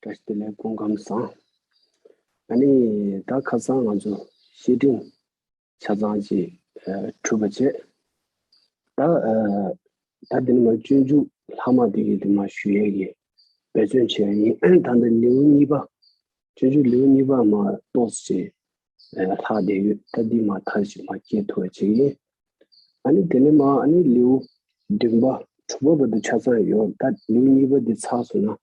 བཀྲ་ཤིས་བདེ་ལེགས་སྤུན་ཁམས་བཟང། ཨ་ནི་ད་ཁ་སང་ང་ཚོ་བཤེས་སྤྲིང་ཆ་ཚང་ཅིག་གྲུབ་པ་བྱས། ད་ད་འདི་ནི་མ་སྤྱོད་འཇུག་ལྷག་མ་དེ་གི་དེ་མ་ཞུ་ཡས་ཀྱི་འབད་བརྩོན་བྱས་ཡིན་ད་འདི་ལེའུ་གཉིས་པ་སྤྱོད་འཇུག་ལེའུ་གཉིས་པ་མ་གཏོགས་ཅི་ལྷག་བསྡད་ཡོད་ད་འདི་མ་མཐར་ཞིག་མ་སྐྱེལ་ཐུབ་པ་བྱས་ཡིན། ཨ་ནི་དེ་ནས་མ་ཨ་ནི་ལེའུ་བདུན་པ་དྲུག་པ་བར་དུ་ཆ་ཚང་ཡོད་ད་ལེའུ་གཉིས་པ་འདི་ཚགས་སུ་ན་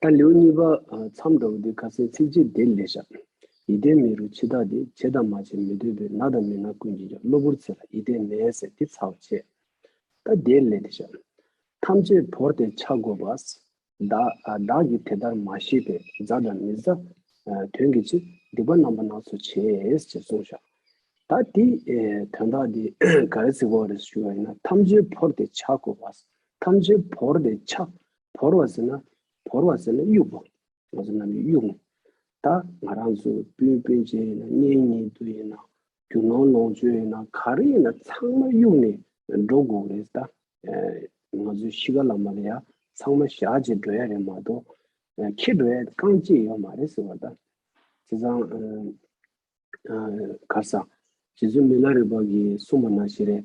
ད་ལེའུ་གཉིས་པ་མཚམས་འགྲོ་བ་འདི་ཁ་སེང་ཚིགས་བཅད་བདེ་ལེགས་ཞབས། ཡིད་བརྟན་མེད་རུང་འཆི་བདག་འདི་བྱེད་དང་མ་བྱེད་མི་སྡོད་པས་ན་དང་མི་ན་ཀུན་གྱིས་ཀྱང་གློ་བུར་ཚེ་ལ་ཡིད་བརྟན་མེད་ཟེར་འདི་ཚར་བ་བྱས། ད་བདེ་ལེགས་འདི་ཞབས། ཐམས་ཅད་བོར་ཏེ་ཆགས་དགོས་པ། བདག་གིས་དེ་ལྟར་མ་ཤེས་པས་བཟའ་དང་མི་བཟའ། དོན་གྱི་ཕྱིར་སྡིག་པ་རྣམ་པ་སྣ་ཚོགས་བྱས་ཞེས་གསུངས་ཤག། ད་དེ་དོན་དག་འདི་ག་རེ་ཚིག་བོ་ག་རེ་ཞུ་བ་ཡིན་ན་ཐམས་ཅད་བོར་ཏེ་ཆགས་དགོས་པ། ཐམས་ཅད་བོར་ཏེ་ཆགས། བོར་བ་ཟེར་ན་བོར་བ་ཟེར་ན་གཡུག་པ། ངོ་ཚ་ན་ནི་གཡུག་ངོ། ད་ང་རང་ཚོ་སྤུན་སྤུན་ཅན་ཡིན་ན་གཉེན་གཉེན་དུ་ཡིན་ན་རྒྱུ་ནོར་ལོངས་སྤྱོད་ཡིན་ན་ག་རེ་ཡིན་ན་ཚང་མ་གཡུག་ནས་འགྲོ་དགོས་རེད་ད། ང་ཚོའི་གཤིས་ཀ་ལ་མ་རེ་ཡ་ཚང་མ་ཞག་གཅིག་འགྲོ་ཡ་རེད་མ་གཏོགས་ཁྱེད་འགྲོ་ཡ་རྐང་གཅིག་ཡོད་མ་རེད་ཟེར་བ་ད། བྱས་ཙང་གར་ས། བྱས་ཙང་མི་ལ་རེ་བ་གིས་གསུངས་པ་ན་ཞེ་རེད།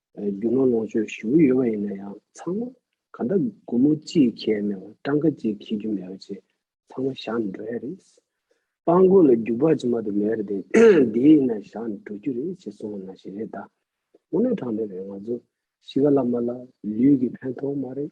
རྒྱུ་ནོར་ལོངས་སྤྱོད་ཞུ་གི་ཡོད་པ་ཡིན་ན་ཡང་ཚང་མ་ག་འདྲ་སྒོར་མོ་གཅིག་ཁྱེར་མེད་པར་སྤྲང་ཁ་གཅིག་ཁྱེར་རྒྱུ་མེད་པ་བཅས་ཚང་མ་བཞག་ནས་འགྲོ་ཡ་རེད། སྤང་རྒོད་ལ་རྒྱུག་པ་ཅི་མ་དུ་མེད་རེད་དེ་དེ་ཡིན་ན་བཞག་ནས་འགྲོ་རྒྱུ་རེད་ཅེས་གསུང་བ་ན་ཞིག་རེད་ད། དངོས་གནས་གྲངས་མེད་པའི་ང་ཚོ་གཞིས་ཀ་བླ་མ་ལ་ལུས་ཀྱི་ཕན་ཐོགས་མ་རེད།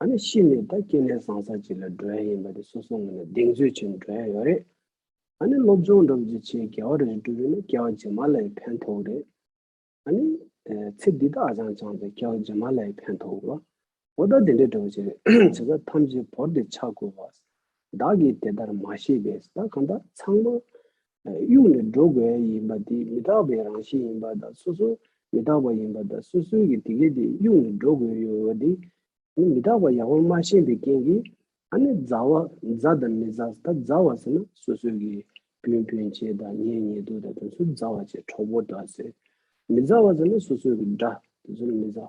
ཨ་ནི་ཤི་ནས་ད་སྐྱེ་གནས་བཟང་ས་ཅིག་ལ་འགྲོ་ཡ་ཡིན་པ་དེ་སོ་སོ་ངོས་ནས་གདེང་ཚོད་ཆེ་ནས་འགྲོ་ཡ་ཡོད་རེད། ཨ་ནི་སློབ་སྦྱོང་འགྲོ་བརྒྱུད་ཆེས་རྒྱལ་བ་རེ་རེ་སྒྲུབ་ཡོད་ན་སྐྱེ་བ་རྗེས་མ་ལ་ཡི་ཕན་ཐོག་རེད། ཨ་ནི། ཚེ་འདི་དག་ཨ་ཅང་བཅངས་ཚེ་སྐྱེ་བ་རྗེས་མ་ལ་ཡི་ཕན་ཐོག་གོ། འོ་ད་དེ་འདྲའི་འདྲི་བ་བྱེད་རེས་བྱེད་ས་ཐམས་ཅད་བོར་ཏེ་ཆགས་དགོས་བ། བདག་གིས་དེ་ལྟར་མ་ཤེས་པས་ད་གང་ལྟར་ཚང་མ། དབྱུག་ལས་འགྲོ་དགོས་ཡིན་པ་དེ་མི་རྟག་པའི་རང་བཞིན་ཡིན་པ་དང་སོ་སོ་མི་རྟག་པ་ཡིན་པ་དང་སོ་སོའི་གི་དེ་གས་དེ་དབྱུག་ལས་འགྲོ་དགོས་ཡོད་བ་དེ། དེ་མི་རྟག་པ་ཡང་བར་མ་ཤེས་པའི་རྐྱེན་གིས་ཨ་ནི་མཛའ་བ་མཛའ་དང་མི་མཛའ་ད་མཛའ་བ་ཟེར་ན་སོ་སོའི་གི་བུན་བུན་བྱེད་དང་ཉེ་ཉེ་དུ་དང་དེ་ཚོ་མཛའ་བ་བྱེད་གྲོགས་པོ་འདྲ་ཟེར། མི་མཛའ་བ་ཟེར་ན་སོ་སོའི་གི་འདྲ་དེ་ཚོ་ནི་མི་མཛའ།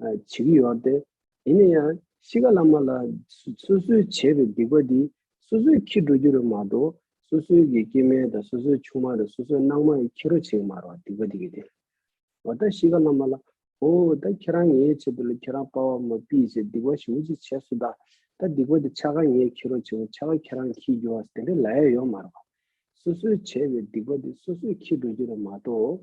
བྱེད་ཀྱི་ཡོད་དེ། ཡིན་ན་ཡང་གཤིས་ཀ་བླ་མ་ལ་སོ་སོའི་བྱས་པའི་སྡིག་པ་འདི་སོ་སོས་ཁྱི་འགྲོ་རྒྱུ་རེད་མ་གཏོགས་སོ་སོའི་གི་སྐྱེ་དམན་དང་སོ་སོའི་ཆུང་མ་དང་སོ་སོའི་སྣང་མ་ཡི་ཁྱི་རོ་བྱེད་ཀྱི་མ་རོ་སྡིག་པ་འདི་གི་དེ། འོ་ད་གཤིས་ཀ་བླ་མ་ལ། ཨོ་ད་ཁྱེད་རང་ངའི་ཆེད་དུ་ལ་ཁྱེད་རང་དཔའ་བ་མ་སྤིས་ཞེས་སྡིག་པ་ཞིག་མུ་ཅི་བྱས་སོ་ད། ད་སྡིག་པ་དེ་ཆ་ག་ངའི་ཁྱི་རོ་བྱེད་ཀྱི་ཆ་ག་ཁྱེད་རང་ཁྱིའི་རྒྱུ་བ་དེ་འདྲ་ལ་ཡ་ཡོད་མ་རོ། སོ་སོའི་བྱས་པའི་སྡིག་པ་འདི་སོ་སོས་ཁྱི་འགྲོ་རྒྱུ་རེད་མ་གཏོགས།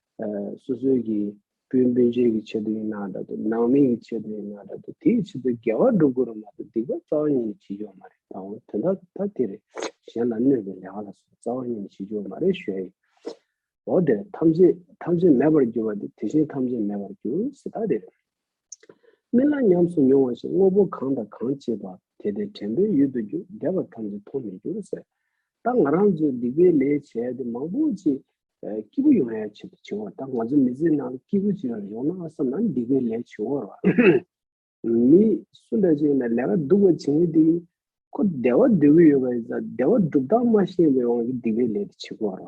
སོ་སོའི་གི་སྤུན་སྤུན་ཆེན་གི་ཆེད་དུ་ཡིན་ནའང་འདྲ་དུ་ནང་མི་གི་ཆེད་དུ་ཡིན་ནའང་འདྲ་དུ་དེའི་ཆེད་དུ་འགལ་བ་སྒྲུབ་དགོས་རུང་མ་གཏོགས་སྡིག་པ་རྩ་བ་ཉིད་ནས་བྱེད་རྒྱུ་བ་མ་རེད་ད་འོ་དོན་དག་ད་དེ་རེད་གཞན་ལ་གནོད་པའི་ལས་ག་ལ་སོང་རྩ་བ་ཉིད་ནས་བྱེད་རྒྱུ་བ་མ་རེད་ཞོའི་འོ་དེ་རེད་ཐམས་ཅད་ཐམས་ཅད་མེད་པར་འགྱུར་བ་དེ་དེ་བཞིན་ཐམས་ཅད་མེད་པར་འགྱུར་སྲིད་ད་དེ་རེད། རྨི་ལམ་ཉམས་སུ་མྱོང་བ་བཞིན་དངོས་པོ་གང་དང་གང་སྐྱེས་པ་དེ་དེ་དྲན་པའི་ཡུལ་དུ་འགྱུར་འདས་པ་ཐམས་ཅད་མཐོང་མི་འགྱུར་ཟེར་ད་ང་རང་ཚོས་སྡིག་པའི་ལས་བྱས་ཏེ་མང་པོ་ཅིག་སྐྱིད་པོ་ཡོང་ཡ་བྱས་ཏེ་བྱེད་དགོས་ད་ང་ཚོ་མི་ཚེའི་ནང་སྐྱིད་པོ་ཅིག་ཡོང་ན་བསམ་ན་འདི་གའི་ལས་བྱེད་བོར་བ་མི་སུ་འདྲ་ཅིག་ཡིན་ན་ལས་ཀ་སྡུག་པ་བྱེད་ངེས་དེ་ཁོ་བདེ་བ་འདོད་ཀྱི་ཡོད་པ་ཡིན་ཙང་བདེ་བ་སྒྲུབ་སྟངས་མ་ཤེས་པའི་དབང་གིས་འདི་གའི་ལས་དེ་བྱེད་དགོས་བར་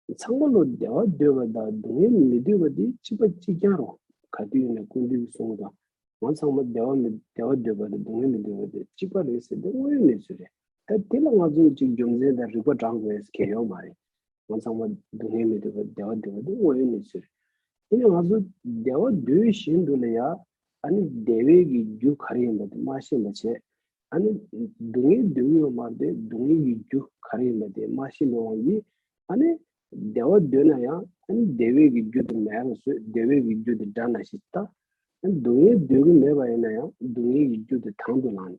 བ། ཚང་མ་ལོ་བདེ་བ་འདོད་པ་དང་སྡུག་བསྔལ་མི་འདོད་པ་དེ་གཅིག་པ་གཅིག་རྐྱང་རུང་ག་དུས་ཡིན་ན་ཀུན་འདུས་ཀྱིས་གསུངས་དང་ང་ཚང་མ་བདེ་བ་མི་བདེ་བ་འདོད་པ་དང་སྡུག་བསྔལ་མི་འདོད་པ་དེ་གཅིག་པ་རེད་ཟེར་དེ་དངོས་ཡོད་གནས་ཚུལ་རེད་ད་དེ་ལ་ང་ཚོས་ཅིག་རྒྱུ་མཚན་དང་རིག་པ་བགྲང་དགོས་གལ་ཡོད་མ་རེད་ངོ་མཚང་མ་སྡུག་བསྔལ་མི་འདོད་པར་བདེ་བ་འདོད་པ་འདི་དངོས་ཡོད་གནས་ཚུལ་རེད། དེ་ནས་ང་ཚོ་བདེ་བ་འདོད་བཞིན་དུ་ལ་ཡ། ཨ་ནི་བདེ་བའི་གི་རྒྱུ་ག་རེ་ཡིན་པ་དེ་མ་ཤེས་པ་བྱས། ཨ་ནི་སྡུག་བསྔལ་འདོད་ཀྱི་ཡོད་མར་དེ་སྡུག་བསྔལ་གྱི་རྒྱུ་ག་རེ་ཡིན་པ་དེ་མ་ཤེས་པའི་དབང་གིས། ཨ་ནི་བདེ་བ་འདོད་ན་ཡང་ཨ་ནི་བདེ་བའི་གི་རྒྱུ་དེ་མེད་པར་བཟོས་བདེ་བའི་གི་རྒྱུ་དེ་འདྲ་ན་ཞེས་བལྟ། ཨ་ནི་སྡུག་བསྔལ་འདོད་ཀྱི་མེད་པ་ཡིན་ན་ཡང་སྡུག་བསྔལ་གྱི་རྒྱུ་དེ་དང་དུ་བླངས་ནས།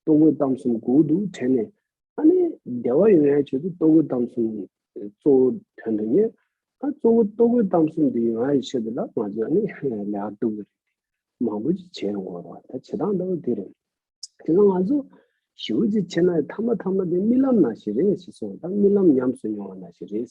ལྟོ་གོས་གཏམ་གསུམ་གོ་འུ་འདུག་དྲན་ནས། ཨ་ནེ། བདེ་བ་ཡོད་ཡ་ཁྱོད་ཚོས་ལྟོ་གོས་གཏམ་གསུམ་གཙོ་བོ་དོན་དུ་གཉེར། ཨ་གཙོ་བོ་ལྟོ་གོས་གཏམ་གསུམ་འདི་ཡོད་ང་ཡི་ཆེད་དུ་ལ་ང་ཚོས་ཨ་ནེ། ལེ་ཨ་ལྟོ་གོས། མང་པོ་ཅིག་བྱེད་ཡོང་དགོས་རོགས་ད་བྱེད་སྟངས་ལྟ་བུ་འདི་རེད། དེ་ལ་ང་ཚོ། ཞི་བ་ཅིག་བྱེད་ན་ཡི་ཐ་མ་ཐ་མ་དེ་རྨི་ལམ་ན་ཞིག་རེད་ཞེས་སོང་ད་རྨི་ལམ་ཉམས་སུ་མྱོང་བ་ན་ཞིག་རེད།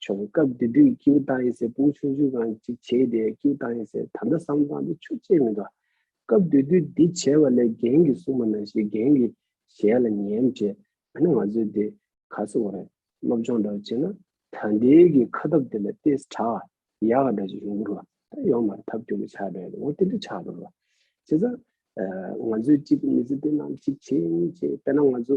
བྱུང། སྐབས་དེ་དུས་ཀེའུ་རྟ་ཡེ་སེར་སྤུན་ཆུང་ཆུང་གང་ཅིག་བྱས་ཏེ་ཀེའུ་རྟ་ཡེ་སེར་ད་ལྟ་བསམ་སྟངས་འདི་ཆུ་བཅད་མི་འདུག་སྐབས་དེ་དུས་འདི་བྱས་པ་ལས་རྒན་གྱིས་གསུངས་པ་ན་ཞིག་རྒན་གྱི་ཞལ་ལ་ཉན་བྱས་ཨ་ནི་ང་ཚོས་འདི་ག་སུ་བ་རེད་སློབ་སྦྱོང་འདྲ་བོ་བྱེད་ན་ད་འདི་གི་ཁ་ཐབ་དེ་ལ་ཏེས་བྲག་ཡག་ག་འདྲ་ཞིག་ཡོང་གི་རུ་ད་ཡོང་མར་ཐབ་སྐྱོ་པོ་ཆགས་བྲལ་འོ་དེ་འདྲ་ཆགས་འདུག་རུ་བྱས་ཙང་ང་ཚོས་གཅིག་མི་ཚེ་འདི་ནང་གཅིག་བྱེད་གཉིས་བྱེད་དཔེར་ན་ང་ཚོ།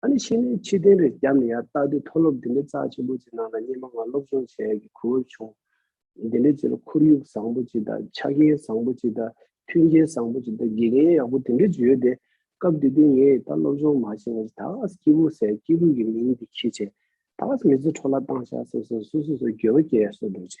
ད་ནི་ཕྱི་ནས་ཕྱིར་དེང་རེ་བརྒྱབ་ནས་ཡར་བལྟ་དུས་མཐོ་སློབ་འདི་འདྲའི་རྩ་ཆེན་པོ་ཅིག་ནང་ན་སྙེ་མ་ལྔ་སློབ་སྦྱོང་བྱས་ཡས་ཀྱི་གོ་བབ་བྱུང། འདི་འདྲའི་རྗེས་ལ་ཁོར་ཡུག་བཟང་པོ་ཅིག་དང་ཆ་རྐྱེན་བཟང་པོ་ཅིག་དང་མཐུན་རྐྱེན་བཟང་པོ་ཅིག་དང་དགེ་རྒན་ཡག་པོ་དེ་འདྲ་ཅིག་ཡོད་དེ། སྐབས་དེ་དུས་ངས་ད་སློབ་སྦྱོང་མ་བྱས་ན་ད་ག་ཟེ་སྐྱིད་པོ་ཟེར་སྐྱིད་པོ་ཡི་མིང་འདི་ཁྱི་བྱས། ད་ག་ཟེ་མི་ཚེ་འཕྲོ་བརླག་བཏང་བཞག་ཟེར་སོ་སོ་སོ་སོའི་འགྱོད་པ་སྐྱེ་ཡས་སོ་འགྲོ་བྱས།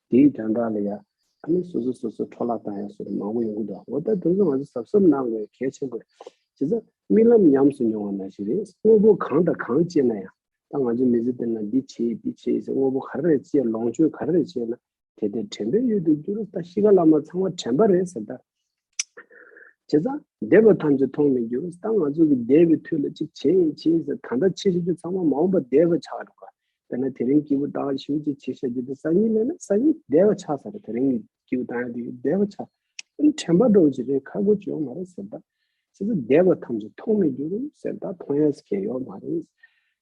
དེའི་སྒྲ་འགའ་ལ་ཡང། ཨ་ནི་སོ་སོ་སོ་སོར་འཕྲོ་བརླག་བཏང་ཡང་སོ་དེ་མང་པོ་ཡོང་གི་འདུག་འོ་ད་དེ་ཚོ་ང་ཚོས་གཟབ་གཟབ་གནང་དགོས་གལ་ཆེན་པོ་རེད། བྱས་ཙང་རྨི་ལམ་ཉམས་སུ་མྱོང་བ་ན་ཞིག་རེད། དངོས་པོ་གང་དང་གང་སྤྱད་ན་ཡང། ད་ང་ཚོས་མི་ཚེ་འདི་ན་འདི་བྱས་འདི་བྱས་ཟེར་དངོས་པོ་ག་རེ་རེ་སྤྱད་ལོངས་སྤྱོད་ག་རེ་རེ་བྱས་ན། དེ་དེ་དྲན་པའི་གཡུལ་དུ་འགྱུར། ད་གཤིས་ཀ་བླ་མ་ཚང་མ་དྲན་པ་རེད་ཟེར་ལྟར། བྱས་ཙང་འདས་པ་ཐམས་ཅད་མཐོང་མི་འགྱུར་ད་ང་ཚོ་གི་འདས་པའི་དུས་ལ་ཅིག་བྱེད་ཡིན་བྱེད་ཟེར་ད་ལྟ་ཕྱི་ཤ་རྒྱུ་ཚང་མ་མ་འོངས་པ་འདས་པ་ཆགས་འགྲོ་ག་དེ་ན་དེ་རིང་སྐྱེས་བུ་བཏགས་ཞིང་ཅིག་བྱེད་ཤ་རྒྱུ་དེ་ས་གཉིས་ལེན་ན་ས་གཉིས་འདས་པ་ཆགས་ཟེར་དེ་རིང་གི་སྐྱེས་བུ་བཏགས་ཡང་དེ་འདས་པ་ཆགས་དེ་དྲན་པ་འགྲོ་བ་ཅིག་རེད་ཁ་སྒོ་གཅོད་ཡོང་མ་རེད་ཟེར་ད་བྱས་ཙང་འདས་པ་ཐམས་ཅད་མཐོང་མི་འགྱུར་ཟེར་ད་མཐོང་ཡང་ཟེར་མཁན་ཡོད་མ་རེད་བྱས་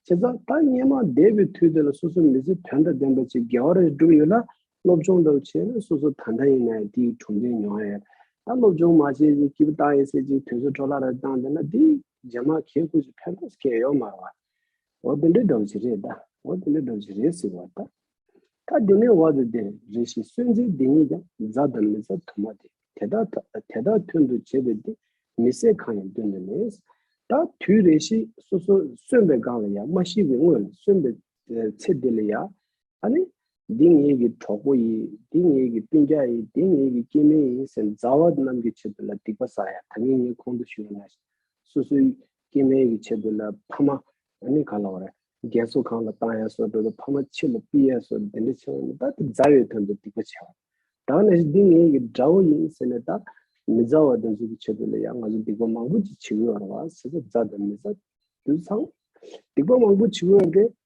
ཙང་ད་སྙན་མང་འདས་པའི་དུས་དེ་ལ་སོ་སོའི་མི་ཚེ་དོན་དང་ལྡན་པ་ཅིག་དགེ་བ་རེ་སྒྲུབ་ཡོད་ན་སློབ་སྦྱོང་དུ་བྱས་ན་སོ་སོ་ད་ལྟ་ཡིན་ནའི་དེའི་གྲུབ་འབྲས་མྱོང་ཨེ། ད་སློབ་སྦྱོང་མ་བྱས་ཅིག་སྐྱིད་པོ་བཏང་ཨེ་ཟེར་ཅིག་དུས་ཚོད་འཕྲོ་བརླག་རེ་བཏང་བསྡད་ན་དེ་རྗེས་མ་གས་ཁུག་ཅིག་ཕེབས་དགོས་སྐད་ཡོད་མར་བ། འོ་དེ་འདྲའི་སྒྲོག་བྱེད་རེད་ད། འོ་དེ་འདྲའི་སྒྲོག་བྱེད་རེད་ཟེར་བ་ད། ད་དེ་ནས་བར་དུ་དེ་རེ་ཞིག་གསོན་རྩིས་འདི་གཉིས་ཀྱང་རྫ་དང་མི་རྫ་དུ་མ་སྟེ་དེ་དག་དེ་དག་མཐུན་དུ་བྱེད་པའི་དེ་མི་བསད་གང་ཡང་སྟོན་དུ་མེད། ད་དུས་རེ་ཞིག་སོ་སོ་གསོན་པའི་སྒང་ལ་ཡ་མ་ཤི་བའི་སྔོན་ལ་གསོན་པའི་ཚེ་དེ་ལ་ཡ། ཨ་ནི། འདི་ངེད་ཀྱི་གྲོགས་པོ་ཡིན། འདི་ངེད་ཀྱི་སྤུན་རྒྱགས་ཡིན། འདི་ངེད་ཀྱི་སྐྱེས་དམན་ཡིན་ཟེར་མཛའ་བ་རྣམས་ཀྱི་ཆེད་དུ་ལ་སྡིག་པ་བསགས་ཡ་ད་ངེད་ངེད་ཁོང་དུ་ཞུ་ཡ་ན། སོ་སོའི་སྐྱེས་དམན་གྱི་ཆེད་དུ་ལ་ཕ་མ། ཨ་ནི་ག་ལ་བ་ར། རྒན་གསོ་ཁང་ལ་བཏང་ཡ་སོ་འགྲོ་ལ་ཕ་མ་ཕྱི་ལ་སྤི་ཡ་སོ་འདི་འདྲ་ཆེ་བ་ནི་ད་དེ་མཛའ་བའི་དོན་དུ་སྡིག་པ་བྱས་བ། དང་ན་ཞིག་འདི་ངེད་ཀྱི་དགྲ་བོ་ཡིན་ཟེར་ནས་ད། མི་མཛའ་བ་དེ་ཚོ་གྱི་ཆེད་དུ་ལ་ཡང་ང་ཚོ་སྡིག་པ་མང་པོ་ཅིག་བྱེད་དགོས་བ་ར་བ། ཟེར་ཚ་མཛའ་དང་མི་མཛའ། དུད་ཚང། སྡིག་པ་མང་པོ་བྱེད་དགོས་བ་དེ།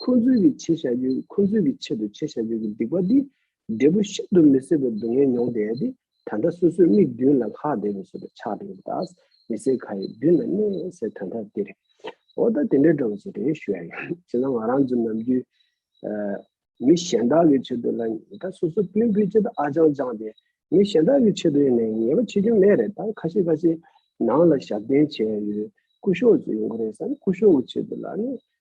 ཁོ་ཚོའི་གི་བྱེད་བྱ་རྒྱུ་ཁོ་ཚོའི་གི་ཆེད་དུ་བྱེད་བྱ་རྒྱུ་གི་སྡིག་པ་འདི་འབྲས་བུ་ཤིན་ཏུ་མི་སྲིད་པའི་སྡུག་བསྔལ་མྱོང་བདེ་ཡ་དེ་ད་ལྟ་སོ་སོའི་མིག་མདུན་ལ་ལྷག་བདེ་བའི་སོ་པའི་ཆགས་བྲལ་བ་དག་མི་སེར་ག་ཡི་མདུན་ན་གནས་སའི་དོན་དག་འདི་རེད། འོ་ད་དེ་འདྲའི་འདྲ་བ་ཞིག་རེད་ཞུ་ཡ་ཡིན་བྱས་ན་ང་རང་ཚོ་ནམ་རྒྱུན་མི་གཞན་དག་གི་ཆེད་དུ་ལ་ཉེས་ད་སོ་སོ་སྤུན་སྤུན་ཆེད་དུ་ཨ་ཅང་ཅང་དེ་མི་གཞན་དག་གི་ཆེད་དུ་ཡིན་ན་ཉེས་པ་བྱེད་རྒྱུ་མེད་རེད་ད་ཁ་ཤས་ཁ་ཤས་ནང་ལ་ཞབས་བརྟན་བྱས་ཡོད་སྐུ་ཞོགས་ཚོ་ཡོང་གི་རེད་བསམ་སྐུ་ཞོགས་གི་ཆེད་དུ་ལ་ནི་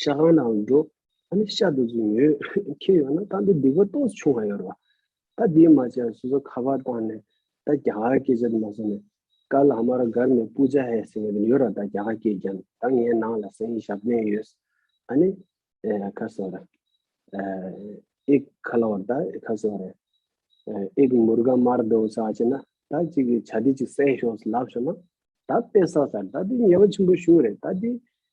ཤ་ཁང་ནང་ལ་འགྲོ། ད་ནི་ཤ་དུག་ཅིག་ཉོས། ཁྱེར་ཡོང་ན་ད་འདི་སྡིག་པ་ཏོག་ཙམ་བྱུང་བར་ཡོད་རེད་བ། ད་དེའི་མ་ཅན་སོ་སོ་ཁ་པར་བཏང་ནས། ད་རྒྱ་གར་སྐད་ཆ་དེ་མ་བཟོ་ནས། ཀ་ལ་མ་ར་སྒར་ནས་པུ་ཇ་ཧེ་ཟེར་བ་དེ་ཡོད་ར་ད་རྒྱ་གར་སྐད་རྒྱབ་ནས་ད་ངའི་ནང་ལ་ཟས་ཡིན་ཞབས་བརྟན་ཡོད། ཨ་ནི། ཁ་སོ་ར། ཨེག་ཁ་ལ་བར་ད་ཁ་སོ་ར། ཨེག་མུར་ག་མར་དོ་ས་ཅི་ན། ད་ཅིག་གིས་བྱ་དེ་ཅིག་བསད་ཤོག་ལབ་ཤོག་ན། ད་དཔེ་ས་ས་ར་ད་འདི་ཉེས་པ་ཆེན་པོ་བྱུང་རེད་ད་འདི།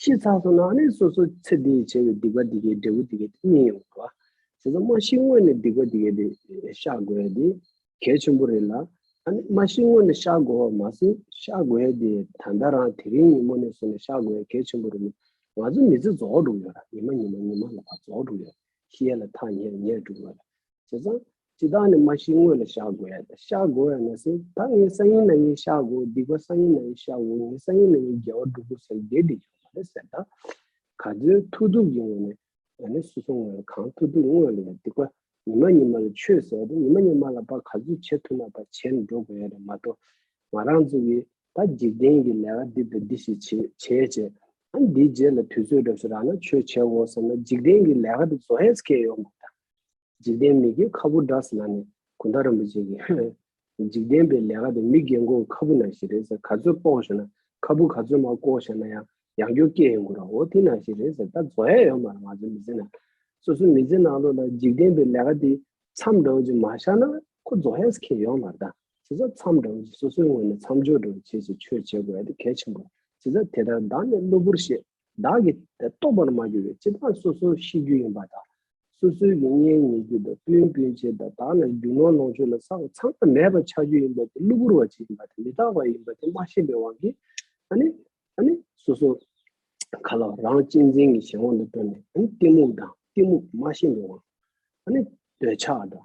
ཤེས་ཚར་སོང་ན་ནི་སོ་སོ་ཚེ་འདིའི་བྱས་པའི་སྡིག་པ་འདི་སྐད་འབྲས་བུ་འདི་སྐད་རྙེད་ཡོང་གི། ཟེར་ན་མ་ཤི་སྔོན་ནས་སྡིག་པ་འདི་སྐད་བཤགས་དགོས་ཡ་དེ་གལ་ཆེན་པོ་རེད་ལ། ཨ་ནི་མ་ཤི་སྔོན་ནས་བཤགས་དགོས་བ་མ་ཟད་བཤགས་དགོས་ཡ་དེ་ད་ལྟ་རང་དེ་རིང་ཉིན་མོ་ནས་བཟུང་ནས་བཤགས་དགོས་ཡ་གལ་ཆེན་པོ་རེད་མོད། ང་ཚོ་མི་ཚེ་རྫོགས་འགྲོ་གི་ཡོད་ར་ཉི་མ་ཉི་མ་ཉི་མ་ལ་བར་རྫོགས་འགྲོ་གི་ཡོད་ར་ཤི་ཡ་ལ་ཐག་ཉེར་ཉེར་འགྲོ་གི་ཡོད་ར་བྱས་ཙང། ཇི་ལྟར་ནི་མ་ཤིའི་སྔོན་ལ་བཤགས་དགོས་ཡ་དེ་བཤགས་དགོས་ཡ་ན་སེ་ད་ངའི་ས་ཡིན་ན་ངས་བཤགས་དགོས་སྡིག་པ་ས་ཡིན་ན་ཡིན་བཤགས་དགོས་ངའི་ས་ཡིན་ན་ཡིན་རྒྱལ་བ་སྒྲུབ་དགོས་ཟེར་དགེ་སྡིག་ཆོག་མ་རེད་ཟེར་ད། ག་ཚོད་ཐུགས་སྡུག་གི་ངོ་ནས་ཡ་ནི་སུ་སོང་ངོ་ཡ་གང་ཐུགས་སྡུག་དངོས་ལ་ཡ་སྡིག་པ་ཉི་མ་ཉི་མ་ལ་ཆོས་ཟེར་ད་ཉི་མ་ཉི་མ་ལ་པ་ག་ཚོད་བྱེད་ཐུགས་ན་པ་བྱས་ནས་འགྲོ་དགོས་ཡ་རེད་མ་གཏོགས་ང་རང་ཚོ་གིས་ད་འཇིག་རྟེན་གྱི་ལས་ཀ་འདི་དང་འདི་ཞིག་བྱས་བྱས་བྱས་ད་འདིའི་རྗེས་ལ་དུས་ཚོད་གྲབས་སོ་རང་ན་ཆོས་བྱས་འོ་ཟེར་ན་འཇིག་རྟེན་གྱི་ལས་ཀ་འདི་བཟོ་ཧེས་ཁེ་ཡོད་མ་ད། འཇིག་རྟེན་མིག་གི་ཁ་བུ་འདྲ་ཟེར་ན་ནི་གུན་ཐ་རིན་པོ་ཆེ་གིས་ཧེ། འཇིག་རྟེན་པའི་ལས་ཀ་དེ་མི་རྒན་གོའི་ཁ་བུ་ན་ཞིག་རེད་ཟེར་ག་ཚོད་སྤོང་ཞེ་ན་ཁ་བུ་ག་ཚོད་མ་བསྐོ་ཞེ་ན་ཡང་ཡང་སྐྱོ་སྐད་ཡིན་དགོས་རོ་འོ་དེ་ན་ཞིག་རེད་ཟེར་ད་བཟོ་ཡ་ཡོད་མ་རེད་ང་ཚོའི་མི་ཚེ་ན་སོ་སོའི་མི་ཚེ་ནང་ལོགས་ལ་འཇིག་རྟེན་པའི་ལས་ཀ་དེ་མཚམས་འདྲ་བོ་ཅིག་མ་བཞག་ན་ཁོ་བཟོ་ཡས་ཁེ་ཡོད་མ་རེད་ད་བྱས་ཙང་མཚམས་འདྲ་བོ་ཅིག་སོ་སོའི་ངོས་ནས་མཚམས་འཇོག་འདྲ་བོ་བྱེད་ཅིག་ཆོས་བྱེད་དགོས་ཡ་དེ་གལ་ཆེན་པོ་རེད་བྱས་ཙང་དེ་ལྟར་བདག་ནི་གློ་བུར་ཤེས། བདག་གིས་དེ་རྟོགས་པར་མ་གྱུར་བའི་ཕྱིར་བདག་སོ་སོར་ཤེས་རྒྱུ་ཡིན་པ་དང། སོ་སོའི་གི་གཉེན་ཉེ་རྒྱུ་དང་སྤུན་སྤུན་མཆེད་དང་བདག་ལ་རྒྱུ་ནོར་ལོངས་སྤྱོད་ལ་སོགས་ཚང་མ་མེད་པར་ཆགས་རྒྱུ་ཡིན་པ་དེ་གློ་བུར་བ་ཅིག་ཡིན་པ་དེ་མི་རྟག་པ་ཡིན་པ་དེ་མ་ཤེས་པའི་དབང་གིས་ཨ་ནི། ཨ་ནི། སོ་སོ། ག་ལ་བ་རང་གཅེས་འཛིན་གྱི་གཞན་དབང་དུ་སྤྲོ་ནས་ཨ་ནི་གཏི་མུག་དང་གཏི་མུག་མ་ཤེས་པའི་དབང། ཨ་ནི། འདོད་ཆགས་དང།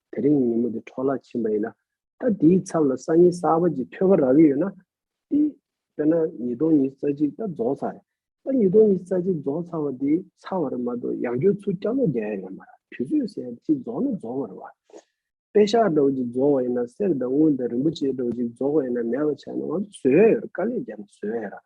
དེ་རིང་ཉིན་མོ་འདི་འཕྲོ་བརླག་ཕྱིན་པ་ཡིན་ན། ད་དེའི་ཚབ་ལ་སང་ཉིན་གསར་པ་ཅིག་འཕྲོད་པ་རག་གི་ཡོད་ན། དེ་དཔེར་ན་ཉིས་སྟོང་ཉིས་རྩ་གཅིག་ད་རྫོགས་ཚར་རེད། ད་ཉིས་སྟོང་ཉིས་རྩ་གཅིག་རྫོགས་ཚར་བ་དེ་ཚར་བ་རེད་མ་གཏོགས་ཡང་བསྐྱོད་ཚུར་བསྐྱར་ལོག་རྒྱག་ཡ་ཡོད་མ་རེད་དུས་ཚོད་གསལ་ཡ་ཅིག་རྫོགས་ན་རྫོགས་བ་རེད་བ། དཔེ་ཞག་འདྲ་བོ་ཅིག་རྫོགས་བ་ཡིན་ན་གསེར་དང་དངུལ་དང་རིན་པོ་ཆེ་འདྲ་བོ་ཅིག་རྫོགས་བ་ཡིན་ན་མེད་པ་ཆགས་ན་ང་ཚོ་བཟོད་ཡ་ཡོད་རེད་དཀའ་ལས་རྒྱབ་ན་བཟོད་ཡ་ཡོད་རེད།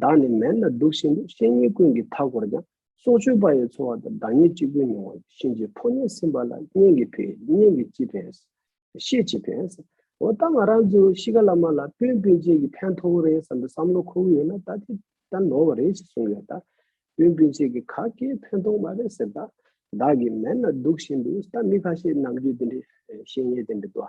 བདག་ནི་མལ་ན་འདུག་བཞིན་དུ་བཤེས་གཉེན་ཀུན་གྱི་མཐའ་བསྐོར་ཀྱང་སྲོག་གཅོད་པ་ཡི་འཚོ་བ་དང་བདག་ཉིད་གཅིག་པུའི་མྱོང་བ་གཤིན་རྗེའི་ཕོ་ཉས་ཟིན་པ་ལ་གཉེན་གྱི་ཕས་གཉེན་གྱིས་ཅི་ཕན། བཤེས་ཅི་ཕན། འོ་ད་ང་རང་ཚོའི་གཤིས་ཀ་བླ་མ་ལ་སྤུན་སྤུན་མཆེད་ཀྱི་ཕན་ཐོགས་རེད་བསམ་པའི་བསམ་བློ་ཁོ་བོའི་ཡོད་ན་ད་དེ་ལྟར་ནོར་བ་རེད་ཅེས་གསུངས་ཡོད་ད། སྤུན་སྤུན་མཆེད་ཀྱི་ག་གེའི་ཕན་ཐོགས་མ་རེད་ཟེར་ད། བདག་གིས་མལ་ན་འདུག་བཞིན་དུ་ད་མི་ཁ་ཤས་ནམ་རྒྱུན་དེ་འདྲའི་བཤེས་གཉེན་དེ་འདྲ་དུ།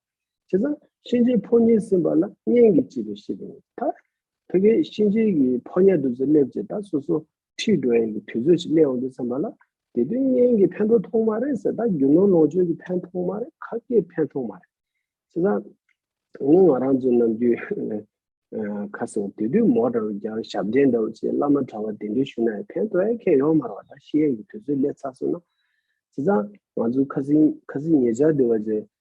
བྱས་ཙང་གཤིན་རྗེའི་ཕོ་ཉས་ཟིན་པ་ལ་གཉེན་གྱིས་བྱས་པའི་ཤེས་པས་ད་ཐེ་ཀའི་གཤིན་རྗེའི་གི་ཕོ་ཉས་བདུད་རྩི་སླེབ་ཅེས་ད་སོ་སོ་ཁྲིད་འགྲོ་ཡན་གྱི་དུས་ཚོད་ཅིག་སླེ་འོང་དུས་བསམ་པ་ལ་དེ་དུས་གཉེན་གྱིས་ཕན་ཐོགས་ཐོག་མ་རེད་ཟེར་ད་རྒྱུ་ནོར་ལོངས་སྤྱོད་ཀྱི་ཕན་ཐོག་མ་རེད་ཁ་སྐད་ཕན་ཐོག་མ་རེད། བྱས་ཙང་ངོ་ང་རང་ཚོའི་ནམ་རྒྱུན་ཁ་སང་དེ་དུས་མོ་འདྲ་བོ་རྒྱར་ཞབས་འདྲེན་འདྲ་བོ་བྱས་བླ་མ་གྲྭ་བ་དེ་འདྲས་ཞུ་ན་ཡང་ཕན་ཐོགས་ཨེ་ཁེ་ཡོང་མ་རོགས་ད་ཤེས་ཡན་གྱི་དུས་ཚོད་སླེ་ཚར་སོང་ན། བྱས་ཙང་ང་ཚོའི་ཁ་སིང་ཁ་སིང་ཉེ་ཆར་དེ་བ་ཅན་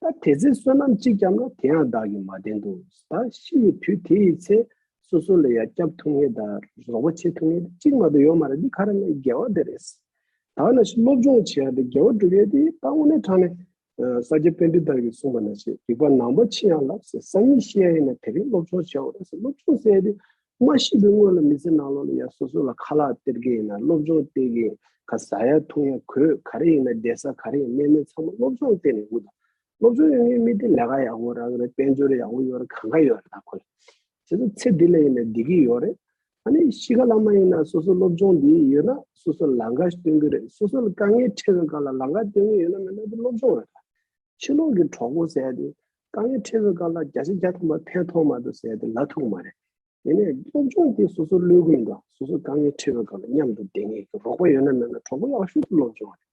ད་དེ་ཚེ་བསོད་ནམས་གཅིག་བསྐྱབས་ན་དེ་ཡང་བདག་གིས་མ་བསྟན་ཏོ། ད་ཤི་བའི་དུས་དེ་ཡི་ཚེ། སོ་སོ་ལ་ཡང་བསྐྱབ་ཐུབ་ངེས་དང་རོགས་པ་བྱེད་ཐུབ་ངེས་ཏེ་གཅིག་མ་གཏོགས་ཡོད་མ་རེད་འདི་ག་རེ་ན་རྒྱལ་བ་དེ་རེད། ད་ན་ཤི་སློབ་སྦྱོང་བྱེད་ཡག་དེ་རྒྱལ་བ་གྲུབ་ཡོད་དེ་ད་དངོས་གནས་དྲང་ནས། ས་སྐྱ་དཔོན་སྤྲུལ་དག་གིས་གསུངས་པ་ན་ཤེས་རིག་པ་ནང་པ་ཕྱི་ཡང་ལབ་ཟེར་ས་གཉིས་ཤེས་ཡག་ཡིན་ན་དེ་རིང་སློབ་སྦྱོང་བྱས་འོང་རེད་ཟེར་སློབ་སྦྱོང་བྱས་ཡོད་དེ་མ་ཤི་བའི་སྔོན་ལ་མི་ཚེ་ནང་ལོག་ལ་ཡང་སོ་སོ་ལ་ཁ་ལག་སྟེར་གི་ཡིན་ན་སློབ་སྦྱོང་སྟེར་གི་ཡིན་ག་ཟ་ཡ་འཐུང་ཡ་གོས་ག་རེ་ཡིན་ན་བསྡད་ས་ག་རེ་ཡིན་གནས་མལ་ཚང་མ་སློབ་སྦྱོང་སྟེར་ནས་འུག་དང། སློབ་སྦྱོང་ཡོང་མཁན་མི་དེ་ལས་ཀ་ཡག་པོ་རག་རེད་དཔལ་འབྱོར་ཡག་པོ་ཡོད་རེད་གང་ག་ཡོད་རེད་ད་ཁོ་ལ་བྱས་ཙང་ཚེ་འདི་ལ་ཡིན་ན་བསྡད་ཀྱི་ཡོད་རེད། ད་ནི་ཤི་ག་ལ་མ་ཡིན་ན་སོ་སོ་སློབ་སྦྱོང་འདི་ཡོད་ན་སོ་སོ་ལ་ལག་འགའ་ཞིག་སྟོན་གི་རེད་སོ་སོ་ལ་དཀའ་ངལ་འཕྲད་པའི་སྐབས་ལ་ལག་འགའ་སྟོན་གི་ཡོད་ན་མེད་ན་དེ་སློབ་སྦྱོང་རེད་ད། ཕྱི་ལོག་གི་གྲོགས་པོ་ཟེར་ཡ་དེ་ཏང་ཡོན་ཁྲི་བའི་སྐབས་ལ་བརྒྱ་ཆ་བརྒྱ་ཐོན་པ་ཕན་ཐོགས་མ་དུ་ཟེར་ཏེ་ལ་ཐུག་མ་རེད། དེ་ནས་སློབ་སྦྱོང་དེ་སོ་སོར་ལོས་གུ་ཡིན་དང་སོ་སོ་ཏང་ཡོན་ཁྲི་བའི་སྐབས་ལ་མཉམ་དུ་བསྡད་ངེས་ཀྱི་རོགས་པ་ཡོད་ན་མེད་ན་གྲོགས་པོ་ཡག་ཤོས་སུ་སློབ་སྦྱོང་རེད།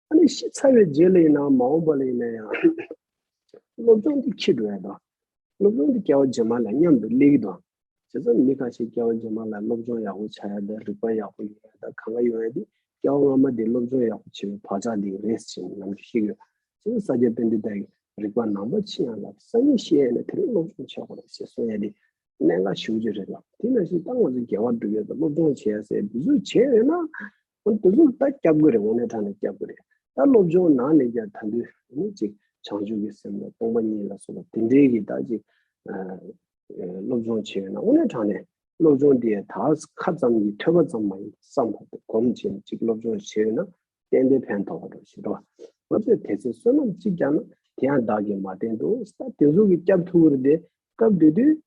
ཨ་ནི་ཤི་ཚར་བའི་རྗེས་ལ་ཡིན་ནའང་མ་འོངས་པ་ལ་ཡིན་ན་ཡང་སློབ་སྦྱོང་དེ་ཁྱི་འགྲོ་ཡ་དང། སློབ་སྦྱོང་དེ་སྐྱལ་བ་རྗེས་མ་ལ་མཉམ་དུ་སླེབས་ཀྱི་དང། བྱས་ཙང་མི་གང་ཞིག་སྐྱེ་བ་རྗེས་མ་ལ་སློབ་སྦྱོང་ཡག་པོ་བྱ་ཡ་དང་རིག་པ་ཡག་པོ་ཡོད་ཡ་དང་གང་ག་ཡོང་ཡ་དེ་སྐྱེ་བ་སྔ་མ་དེ་སློབ་སྦྱོང་ཡག་པོ་བྱས་པའི་བག་ཆགས་དེའི་རེས་བྱས་ནས་ནང་དུ་ཤི་གི། བྱས་ཙང་ས་སྐྱ་དཔོན་འདི་དག་གིས་རིག་པ་ནང་པ་ཆི་ཡང་ལབ་ས་གཉིས་ཤེས་ཡ་ནས་དེ་རིང་སློབ་སྦྱོང་བྱེད་དགོས་རེད་ཞེས་གསུང་ཡ་དེ་གནད་འགག་ཞིའུ་ཅི་རེད་ལབ་དེ་ནང་བཞིན་ད་ང་ཚོ་རྒྱལ་བ་སྒྲུབ་ཡ་དང་སློབ་སྦྱོང་བྱེད་ཡ་ཟེར་བསྡུ་བཟོ་བྱས་ཡོད་ན། ཨོ་དེ་ཚོ་ད་སྐྱབས་དགོས་རེད་དབང་ལེན་ཐང་ནས་སྐྱབས་དགོས་རེད་ད་སློབ་སྦྱོང་ནང་ནས་ཀྱང་ད་དུས་ནི་ཅིག་བྱང་ཆུབ་ཀྱི་སེམས་ལ་སྟོང་པ་ཉིད་ལ་སོགས་པ་དེ་འདྲའི་གི་ད་ཅིག་སློབ་སྦྱོང་བྱེད་ཡོད་ན་དབང་ལེན་ཐང་ནས་སློབ་སྦྱོང་དེ་ད་ཁ་ཙམ་གྱི་ཐོས་པ་ཙམ་མ་ཡིན་བསམ་བློ་དེ་གོམས་བྱས་ནས་ཅིག་སློབ་སྦྱོང་བྱེད་ཡོད་ན་གཏན་དེ་ཕན་ཐོགས་པ་འགྲོ་ཞེས་འགྲོ་ང་ཚོས་དེ་ཚོའི་བསོད་ནམས་ཅིག་ཀྱང་ན་དེ་ཡང་བདག་གིས་མ་བསྟན་དུ་ད་དེ་ཚོ་གི་སྐྱབས་ཐུགས་ཁུར་དེ་སྐབས་དེ་དུས